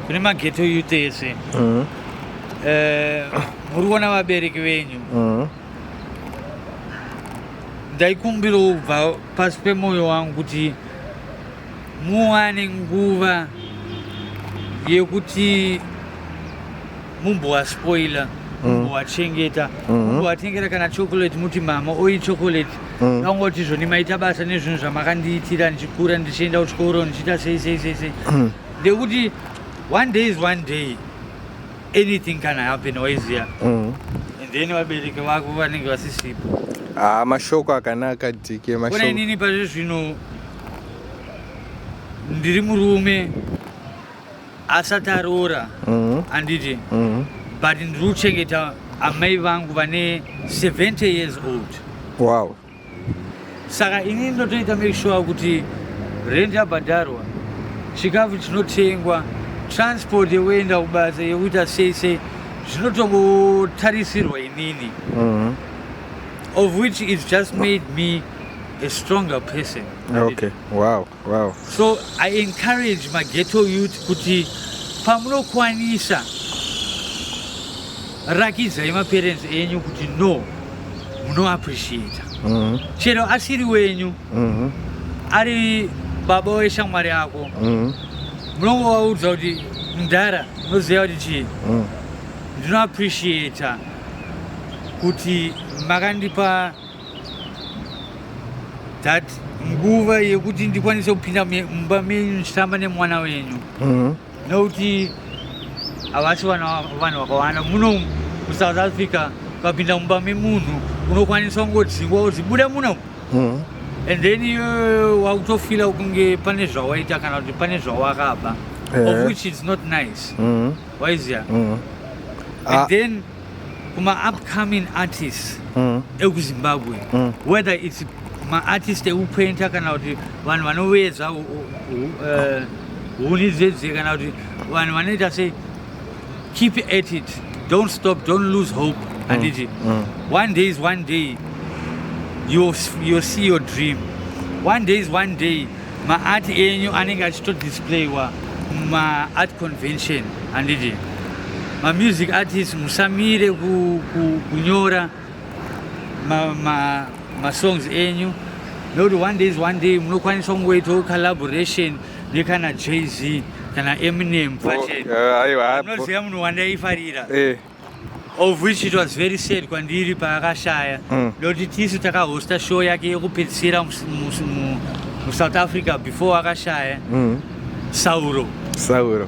kune mageto youth ese mm. eh, muri kuona vabereki venyu mm. ndaikumbirawo kubva pasi pemwoyo wangu kuti muwane nguva yekuti mumbowaspoila mm. mumbowachengeta mm. mumbowatengera kana chocolate muti mama oyi chocolate vangoti mm. zvoni maita basa nezvinhu zvamakandiitira ndichikura ndichienda kuchikoro ndichiita sei sei sei sei ndekuti one day is one day anything can happen waiziya mm. and then vabereki vako vanenge vasisipo ah, mashoko akanaka dike mashoko inini pazvi zvino ndiri murume asati aroora mm-hmm. anditi mm-hmm. but ndiri kuchengeta amai vangu vane 70 years old wow saka ini ndotoita make sure kuti rent yabhadharwa chikafu chinotengwa transport yekuenda kubasa yekuita sei sei zvinotongotarisirwa inini mm-hmm. of which is just made me a stronger person okay wow Wow. So I encourage my ghetto youth kuti pamunokwanisa rakidzai maparents enyu kuti no munoappreciata mm -hmm. chero asiri wenyu mm -hmm. ari baba weshamwari yako mm -hmm. munongovaudza kuti mdhara unoziva kuti chii mm. ndinoappreciata kuti makandipa that nguva yekuti ndikwanise kupinda mumba menyu ndichitamba nemwana wenyu mhm. nokuti havasi vanhu vakawanda muno musouth africa ukapinda mumba memunhu unokwanisa kungodzingwa kuti buda muno mhm. and then iyoyo wakutofila kunge pane zvawaita kana kuti pane zvawakaba of eh. which is not nice mhm. waiziva and ah. then kuma upcoming artists mm. ekuzimbabwe mm. whether its maartist ekupainta kana kuti vanhu vanovedza eh, huni dzedze kana kuti vanhu vanoita sei keep at it don't stop don't lose hope mm. handiti mm. one day is one day you'll, you'll see your dream one day is one day maart enyu anenge achitodisplayiwa mumaart convention handiti mamusic artist musamire kunyora masongs enyu nokuti one days one day munokwanisa kungoitawo collaboration nekana jz kana eminem oh, eh, aiwa anoziva munhu wandaifarira eh. of which it was very sad kwandiri paakashaya mm. ndokuti tisu takahosta show yake yekupedzisira musouth africa before akashaya mm. sauro sauro